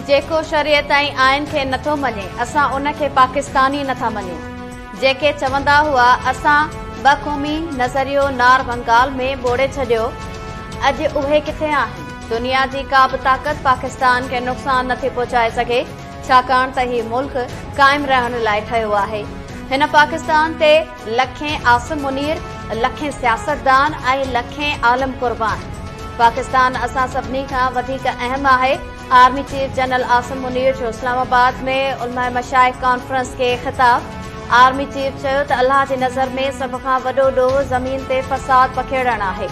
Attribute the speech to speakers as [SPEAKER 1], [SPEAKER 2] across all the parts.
[SPEAKER 1] جيڪو شريعت ۽ آئين کي نٿو مڃي اسان ان کي پاڪستان ئي نٿا مڃون جيڪي چوندا هئا اسان ٻه قومي نظريو نار ڀنگال ۾ ٻوڙي ڇڏيو اڄ اهي ڪٿي آهن دنيا جي ڪا به طاقت پاڪستان کي نقصان نٿي پهچائي سگهي ڇاڪاڻ ته هي ملڪ قائم رهڻ لاء ٺهيو آهي هن پاڪستان تي لکين عاصم منير، لکين سياستدان ۽ لکين عالم قربان، پاڪستان اسان سڀني کان وڌيڪ اهم آهي، army chief general Asim Munir جو اسلام آباد ۾ علماء مشائخ ڪانفرنس کي خطاب، آرمي چيف چيو ته الله جي نظر ۾ سڀ کان وڏو ڏوهه زمين تي فساد پکيڙڻ آهي،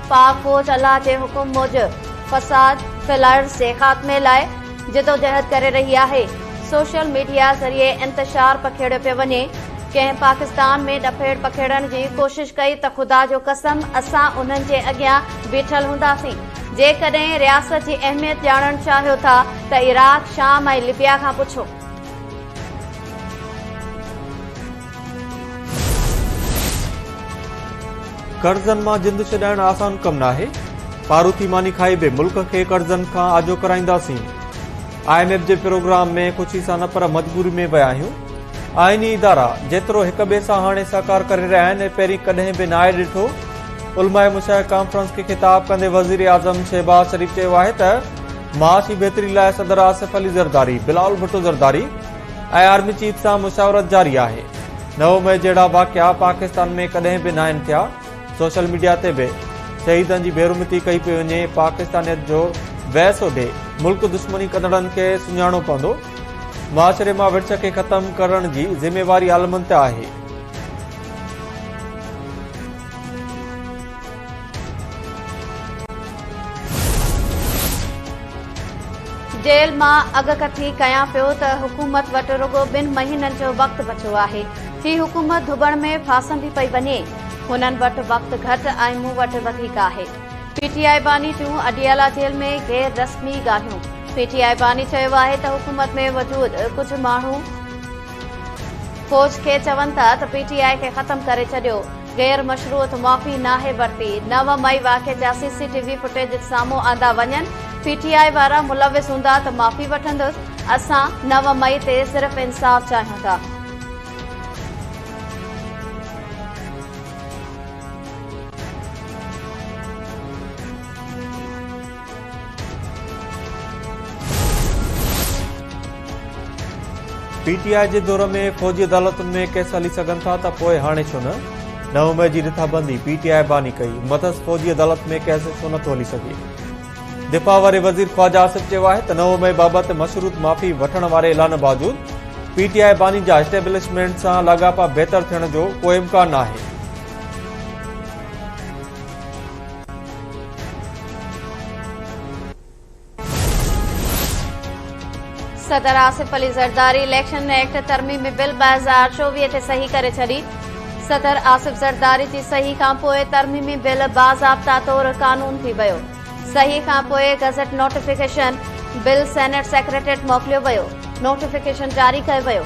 [SPEAKER 1] پاڪ فوج الله جي حڪم موجب فساد ڦهلائيرس جي خاتمي لاء جدوجهد ڪري رهي آهي، سوشل ميڊيا ذريعي انتشار پکيڙيو پيو وڃي، ڪنهن پاڪستان ۾ ڏڦيڙ پکيڙڻ جي ڪوشش ڪئي ته خدا جو قسم اسان انهن جي اڳيان بيٺل هونداسين، جيڪڏهن رياست جي اهميت ڄاڻڻ چاهيو ٿا ته عراق، شام ۽ لبيا کان پڇو.
[SPEAKER 2] قرضن مان جند ڇڏائڻ آسان ڪم ناهي، پاروٿي ماني کائي به ملڪ کي قرضن کان آجو ڪرائينداسين، آء ايم ايف جي پروگرام ۾ خوشي سان نه پر مجبوري ۾ ويا آهيون، آئيني ادارا جيترو هڪ ٻئي سان هاڻي سهڪار ڪري رهيا آهن پهرين ڪڏهن به ناهي ڏٺو، علماء مشائخ ڪانفرنس کي خطاب ڪندي وزيراعظم شهباز شريف چيو آهي ته معاشي بهتري لاء صدر آصف علي زرداري، بلاول ڀٽو زرداري، اي آرمي چيف سان مشاورت جاري آهي نو مئي جهڙا واقعا پاڪستان ۾ ڪڏهن به ناهن ٿيا سوشل ميڊيا تي به شهيدن جي بيرمتي ڪئي پئي وڃي پاڪستانيت جو ويس اڏي ملڪ دشمني ڪندڙن کي سڃاڻو پوندو معاشري مان ورڇ کي ختم ڪرڻ جي ذميواري عالمن تي آهي
[SPEAKER 1] جيل مان اڳڪٿي ڪيان پيو ته حڪومت وٽ رڳو ٻن مهينن جو وقت بچو آهي. هي حڪومت ڌٻڻ ۾ ڦاسندي پئي وڃي. هنن وٽ وقت گهٽ ۽ مون وٽ وڌيڪ آهي. پي ٽي آء باني ٽيون اڊيالا جيل ۾ غير رسمي ڳالهيون، پي ٽي آء باني چيو آهي ته حڪومت ۾ وجود ڪجهه ماڻهو فوج کي چون ٿا ته پي ٽي آء کي ختم ڪري ڇڏيو، غير مشروط معافي ناهي ورتي، نو مئي واقعي جا C C T V footage سامهون آندا وڃن، پي ٽي آء وارا ملوث هوندا ته معافي وٺندس، اسان نو مئي تي صرف انصاف چاهيون ٿا.
[SPEAKER 2] پي ٽي آء جي دور ۾ فوجي عدالتن ۾ ڪيس هلي سگهن ٿا ته پوء هاڻي ڇو نه؟ نو مئي جي رٿابندي پي ٽي آء باني ڪئي، مٿس فوجي عدالت ۾ ڪيس ڇو نه ٿو هلي سگهي؟ دفاع واري وزير خواجه آصف چيو آهي ته نو مئي بابت مشروط معافي وٺڻ واري اعلان باوجود پي ٽي آء باني جا اسٽيبلشمينٽ سان لاڳاپا بهتر ٿيڻ جو ڪو امڪان ناهي.
[SPEAKER 1] صدر آصف علي زرداري اليڪشن ايڪٽ ترميمي بل ٻه هزار چوويهه تي صحيح ڪري ڇڏي صدر آصف زرداري جي صحيح کانپوء ترميمي بل باضابطا طور قانون ٿي ويو صحيح کانپوء gazette notification bill senate secretariat موڪليو ويو نوٽيفڪيشن جاري ڪيو ويو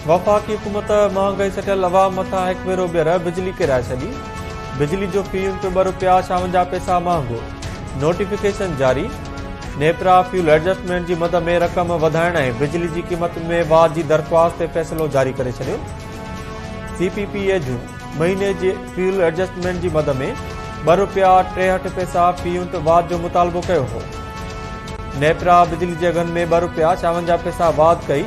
[SPEAKER 2] وفاقي حڪومت مهانگائي سٽيل عوام مٿان هڪ ڀيرو ٻيهر بجلي ڪيرائي ڇڏي، بجلي جو في يونٽ ٻه رپيا ڇاونجاهه پئسا مهانگو، نوٽيفڪيشن جاري، نيپرا فيول ايڊجسٽمينٽ جي مد ۾ رقم وڌائڻ ۽ بجلي جي قيمت ۾ واڌ جي درخواست تي فيصلو جاري ڪري ڇڏيو، سي پي پي اي جون مهيني جي فيول ايڊجسٽمينٽ جي مد ۾ ٻه رپيا ٽيهٺ پئسا في يونٽ واڌ جو مطالبو ڪيو هو. نيپرا بجلي جي اگهن ۾ ٻه رپيا چاونجاهه پئسا واڌ ڪئي،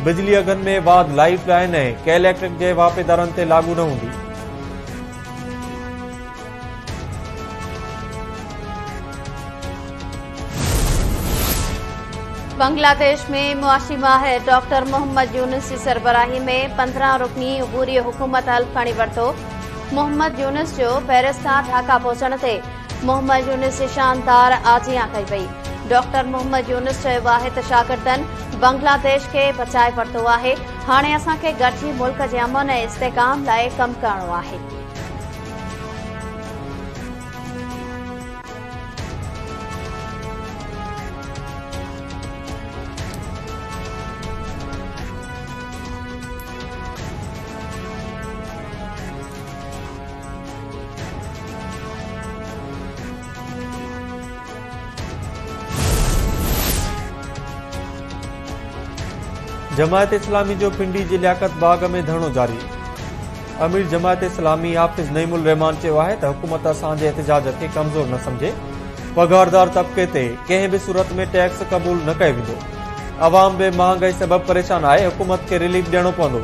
[SPEAKER 2] بجلي اگهن ۾ واڌ لائيف لائين ۽ ڪي اليڪٽرڪ جي واهپيدارن تي لاڳو نه هوندي.
[SPEAKER 1] بنگلاديش ۾ معاشي ماهر ڊاڪٽر محمد يونس جي سربراهي ۾ پندرهن رڪني عبوري حڪومت حلف کڻي ورتو، محمد يونس جو پئرس کان ڍاڪا پهچڻ تي محمد يونس جي شاندار آجيان ڪئي وئي ڊاڪٽر محمد يونس چيو آهي ته شاگردن بنگلاديش کي بچائي ورتو آهي هاڻي اسان کي گڏجي ملڪ جي امن ۽ استحڪام لاء ڪم ڪرڻو آهي
[SPEAKER 2] جماعت اسلامي جو پنڊي جي لياقت باغ ۾ ڌرڻو جاري امير جماعت اسلامي حافظ نعيم الرحمان چيو آهي ته حڪومت اسان جي احتجاج کي ڪمزور نه سمجهي پگهاردار طبقي تي ڪنهن به صورت ۾ ٽيڪس قبول نه ڪيو ويندو عوام به مهانگائي سبب پريشان آهي حڪومت کي ريليف ڏيڻو پوندو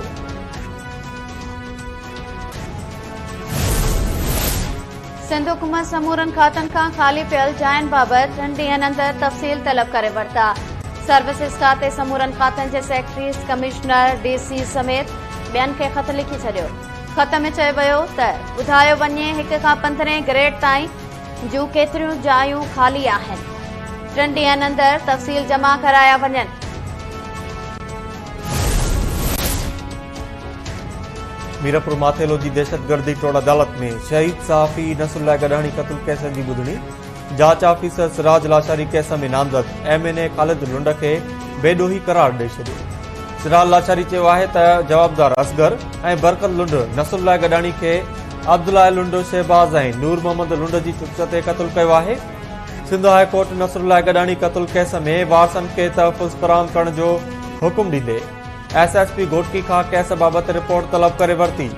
[SPEAKER 1] سنڌ حڪومت سمورن کاتن کان خالي پيل جاين بابت ٽن ڏينهن اندر تفصيل طلب ڪري ورتا، سروسز کاتي سمورن کاتن جي سيڪريٽريز، ڪمشنر، ڊي سي سميت ٻين کي خط لکي ڇڏيو، خط ۾ چيو ويو ته ٻڌايو وڃي هڪ کان پندرهين گريڊ تائين جون ڪيتريون جايون خالي آهن، ٽن ڏينهن اندر تفصيل جمع ڪرايا وڃن.
[SPEAKER 2] ميرپور ماٿيلو جي دهشتگردي ٽوڙ عدالت ۾ شهيد صحافي نصرالله گڏاڻي قتل ڪيسن جي ٻڌڻي، جاچ آفيسر سراج لاشاري ڪيس ۾ نامزد M N A Khalid Lund کي بي ڏوهي قرار ڏئي ڇڏيو. سراج لاشاري چيو آهي ته جوابدار اصغر ۽ برڪت لنڊ نصرالله گڏاڻي کي عبدالله لنڊ، شهباز ۽ نور محمد لنڊ جي چڪس تي قتل ڪيو آهي. سنڌ هاء ڪورٽ نصرالله گڏاڻي قتل ڪيس ۾ وارثن کي تحفظ فراهم ڪرڻ جو حڪم ڏيندي ايس ايس پي گهوٽڪي کان ڪيس بابت رپورٽ طلب ڪري ورتي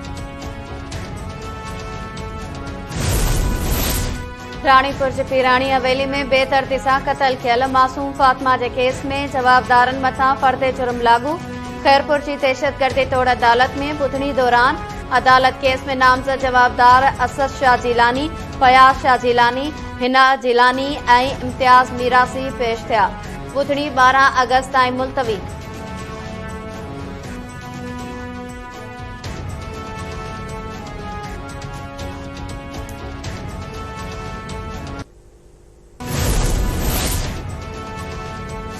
[SPEAKER 1] راڻيپور جي پيراڻي حويلي ۾ بي ترتي سان قتل ٿيل معصوم فاطمه جي ڪيس ۾ جوابدارن مٿان فرد جرم لاڳو خيرپور جي دهشتگردي توڙ عدالت ۾ ٻڌڻي دوران عدالت ڪيس ۾ نامزد جوابدار اسد شاهه جيلاني فياض شاهه جيلاني، حنا جيلاني ۽ امتياز ميراثي پيش ٿيا، ٻڌڻي ٻارهن آگسٽ تائين ملتوي.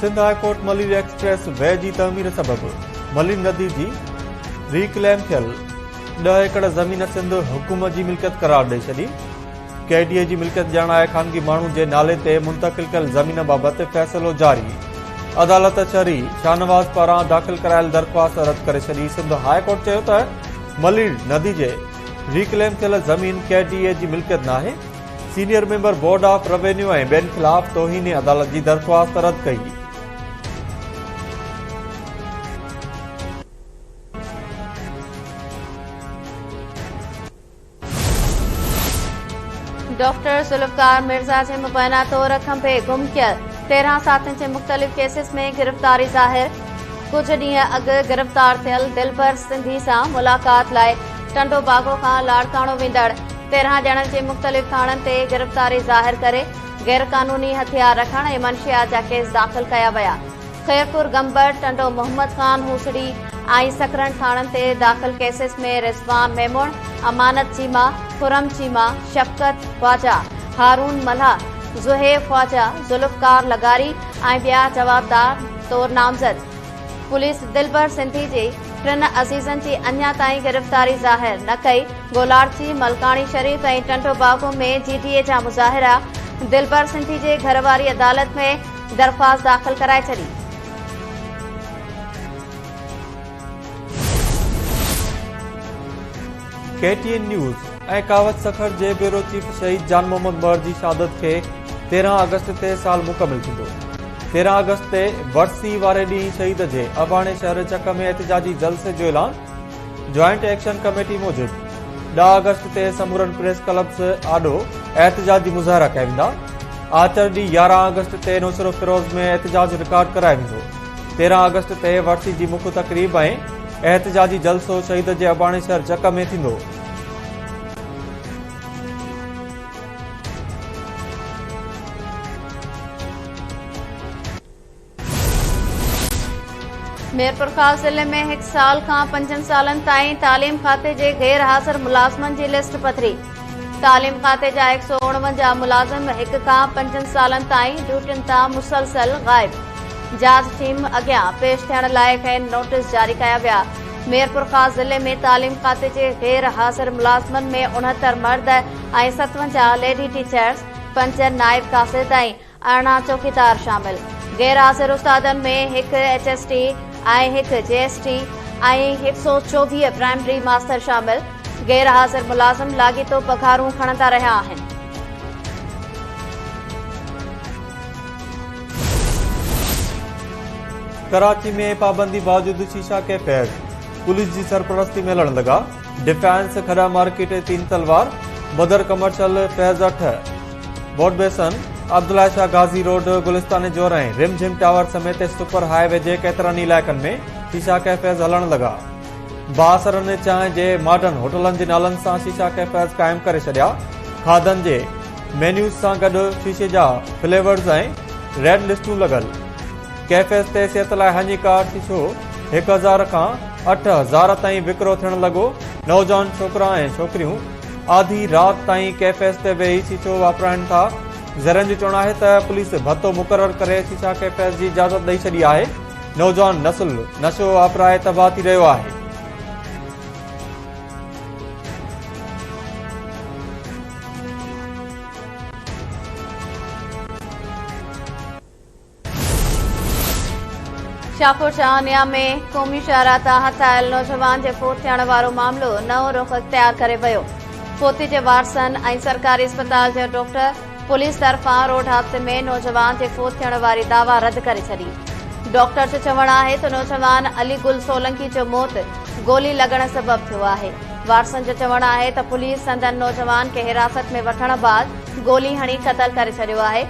[SPEAKER 2] Sindh high court Malir expressway جي تعمير سبب ملير ندي جي ري ڪليم ٿيل ڏهه ايڪڙ زمين سنڌ حڪومت جي ملڪيت قرار ڏئي ڇڏي ڪي ڊي اي جي ملڪيت ڄاڻائي خانگي ماڻهو جي نالي تي منتقل ڪيل زمين بابت فيصلو جاري عدالت چري شاهنواز پاران داخل ڪرايل درخواست رد ڪري ڇڏي سنڌ هاء ڪورٽ چيو ته ملير ندي جي ريڪليم ٿيل زمين ڪي ڊي اي جي ملڪيت ناهي senior member board of revenue ۽ ٻين خلاف توهين عدالت جي درخواست رد ڪئي.
[SPEAKER 1] ڊاڪٽر ذوالفقار مرزا جي مبينا طور کنڀي گم ٿيل تيرهن ساٿين جي مختلف ڪيسز ۾ گرفتاري ظاهر ڪجهه ڏينهن اڳ گرفتار ٿيل دلبر سنڌي سان ملاقات لاء ٽنڊو باگو کان لاڙڪاڻو ويندڙ تيرهن ڄڻن جي مختلف ٿاڻن تي گرفتاري ظاهر ڪري غير قانوني هٿيار رکڻ ۽ منشيات جا ڪيس داخل ڪيا ويا. خيرپور گمبڙ، ٽنڊو محمد خان، هوسڙي ۽ سکرن ٿاڻن تي داخل ڪيسز ۾ رضوان ميمڻ، امانت چيما، خرم چيما، شفقت خواجا، هارون ملاح، زوهيب خواجا، ذوالفقار لغاري ۽ ٻيا جوابدار طور نامزد. پوليس دلبر سنڌي جي ٽن عزيزن جي اڃا تائين گرفتاري ظاهر نه ڪئي، گولارسي، ملڪاڻي شريف ۽ ٽنڊوباگو ۾ جي ڊي اي جا مظاهرا، دلبر سنڌي جي گهر واري عدالت ۾ درخواست داخل ڪرائي ڇڏي.
[SPEAKER 2] K T N news ۽ Kawish Sukkur جي بيورو چيف شهيد جان محمد مهر جي شهادت کي تيرهن آگسٽ تي سال مڪمل ٿيندو تيرهن آگسٽ تي ورسي واري ڏينهن شهيد جي اباڻي شهر چڪ ۾ احتجاجي جلسي جو اعلان جوائنٽ ايڪشن ڪميٽي موجب ڏهه آگسٽ تي سمورن پريس ڪلبز آڏو احتجاجي مظاهرا ڪيا ويندا آچر ڏينهن يارهن آگسٽ تي نوشهرو فيروز ۾ احتجاج رڪارڊ ڪرايو ويندو تيرهن آگسٽ تي ورسي جي مک تقريب ۽ احتجاجي جلسو شهيد جي اباڻي شهر جڪ ۾ ٿيندو
[SPEAKER 1] ميرپورخاص ضلعي ۾ هڪ سال کان پنجن سالن تائين تعليم کاتي جي غير حاضر ملازمن جي لسٽ پڌري، تعليم کاتي جا هڪ سؤ اڻونجاهه ملازم هڪ کان پنجن سالن تائين ڊيوٽين تان مسلسل غائب، جاچ ٽيم اڳيان پيش ٿيڻ لاء کين نوٽيس جاري ڪيا ويا، ميرپورخاص ضلعي ۾ تعليم کاتي جي غير حاضر ملازمن ۾ اڻهتر مرد ۽ ستونجاهه ليڊي ٽيچرز، پنج نائب قاصد ۽ ارڙهن چوڪيدار شامل غير حاضر استادن ۾ هڪ ايچ ايس ٽي ۽ هڪ جي ايس ٽي ۽ هڪ سؤ چوويهه پرائمري ماستر شامل غير حاضر ملازم لاڳيتو پگهارون کڻندا رهيا آهن
[SPEAKER 2] ڪراچي ۾ پابندي باوجود شيشا ڪيفيز پوليس جي سرپرستي ۾ لڙهڻ لڳا ڊفينس کڏا مارڪيٽ تين تلوار بدر ڪمرشل فيض اٺ boat basin Abdullah Shah Ghazi road Gulistan Jauhar ۽ Rimjhim tower سميت سپر هاء وي جي ڪيترن ئي علائقن ۾ شيشا ڪيفيز هلڻ لڳا بااثرن چانهه جي ماڊرن هوٽلن جي نالن سان شيشا ڪيفيز قائم ڪري ڇڏيا کاڌن جي مينيوز سان گڏ شيشي جا فليورز ۽ ريڊ لسٽون لڳل ڪيفيت تيسيت لاء هني ڪار ٿي ڇو هڪ هزار کان اٺ هزار تائين وڪرو ٿيڻ لڳو نوجوان ڇوڪرا ۽ ڇوڪريون آڌي رات تائين ڪيفيت تي ويهي ٿي ڇو واپرائن ٿا ذريعن جو چوڻ آهي ته پوليس ڀتو مقرر ڪري ٿي ڇا ڪيفيت جي اجازت ڏئي ڇڏي آهي نوجوان نسل نشو واپرائي تباهه ٿي رهيو آهي
[SPEAKER 1] شاهپور شاهانيا ۾ قومي شاهراهه تان هٿايل نوجوان جي فوت ٿيڻ وارو معاملو نئون رخ اختيار ڪري ويو، فوتي جي وارثن ۽ سرڪاري اسپتال جي ڊاڪٽر پوليس طرفان روڊ حادثي ۾ نوجوان جي فوت ٿيڻ واري دعويٰ رد ڪري ڇڏي. ڊاڪٽر جو چوڻ آهي ته نوجوان علي گل سولنڪي جو موت گولي لڳڻ سبب ٿيو آهي، وارثن جو چوڻ آهي ته پوليس سندن نوجوان کي حراست ۾ وٺڻ بعد گولي هڻي قتل ڪري ڇڏيو آهي،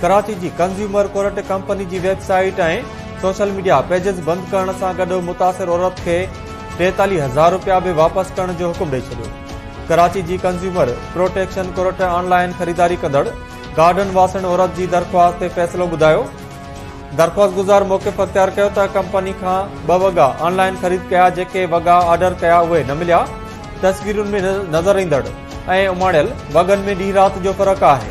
[SPEAKER 2] ڪراچي جي ڪنزيومر ڪورٽ ڪمپني جي website ۽ social media pages بند ڪرڻ سان گڏ متاثر عورت کي ٽيتاليهه هزار رپيا به واپس ڪرڻ جو حڪم ڏئي ڇڏيو ڪراچي جي consumer protection court online خريداري ڪندڙ گارڊن واسڻ عورت جي درخواست تي فيصلو ٻڌايو درخواست گذار موقف اختيار ڪيو ته ڪمپني کان ٻه وڳا آن لائن خريد ڪيا جيڪي وڳا آرڊر ڪيا اهي نه مليا تصويرن ۾ نظر ايندڙ ۽ اماڻيل وڳن ۾ ڏينهن رات جو فرق آهي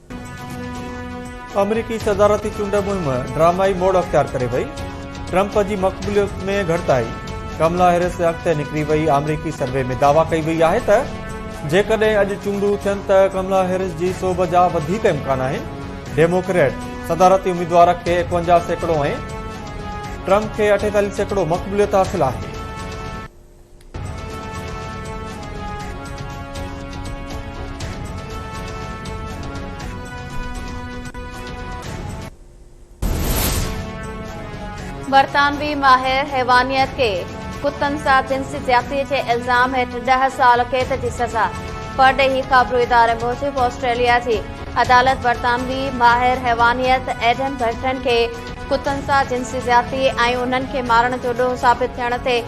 [SPEAKER 2] آمريڪي صدارتي چونڊ مهم ڊرامائي موڊ اختيار ڪري وئي، ٽرمپ جي مقبوليت ۾ گهٽتائي، ڪملا هيرس اڳتي نڪري وئي، آمريڪي سروي ۾ دعويٰ ڪئي وئي آهي ته جيڪڏهن اڄ چونڊون ٿين ته ڪملا هيرس جي سوڀ جا وڌيڪ امڪان آهن، ڊيموڪريٽ صدارتي اميدوار کي ايڪونجاهه سيڪڙو ۽ ٽرمپ کي اٺيتاليهه سيڪڙو مقبوليت حاصل آهي.
[SPEAKER 1] برطانوي ماهر حيوانيت کي ڪتن سان جنسي زيادتي جي الزام هيٺ ڏهه سال قيد جي سزا پرڏيهي خبرو اداري موجب آسٽريليا جي عدالت برطانوي ماهر حيوانيت ايڊن برٽن کي ڪتن سان جنسي زيادتي ۽ انهن کي مارڻ جو ڏوهه ثابت ٿيڻ تي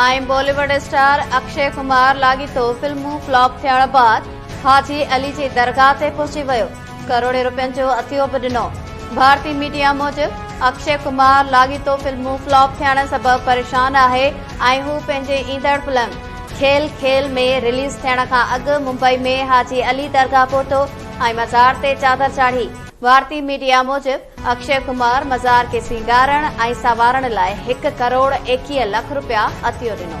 [SPEAKER 1] ايم Bollywood star Akshay Kumar لاڳيتو فلمون فلاپ ٿيڻ بعد حاجي علي جي درگاهه تي پهچي ويو ڪروڙين روپين جو عطيو به ڏنو ڀارتي ميڊيا موجب اڪشي ڪمار لاڳيتو فلمون فلاپ ٿيڻ سبب پريشان آهي ۽ هو پنهنجي ايندڙ فلم کيل کيل ۾ رليز ٿيڻ کان اڳ ممبئي ۾ حاجي علي درگاهه پهتو ۽ مزار تي چادر چاڙهي. ڀارتي ميڊيا موجب اڪشي ڪمار مزار کي سينگارڻ ۽ سنوارڻ لاء هڪ ڪروڙ ايڪيهه لک رپيا عطيو ڏنو.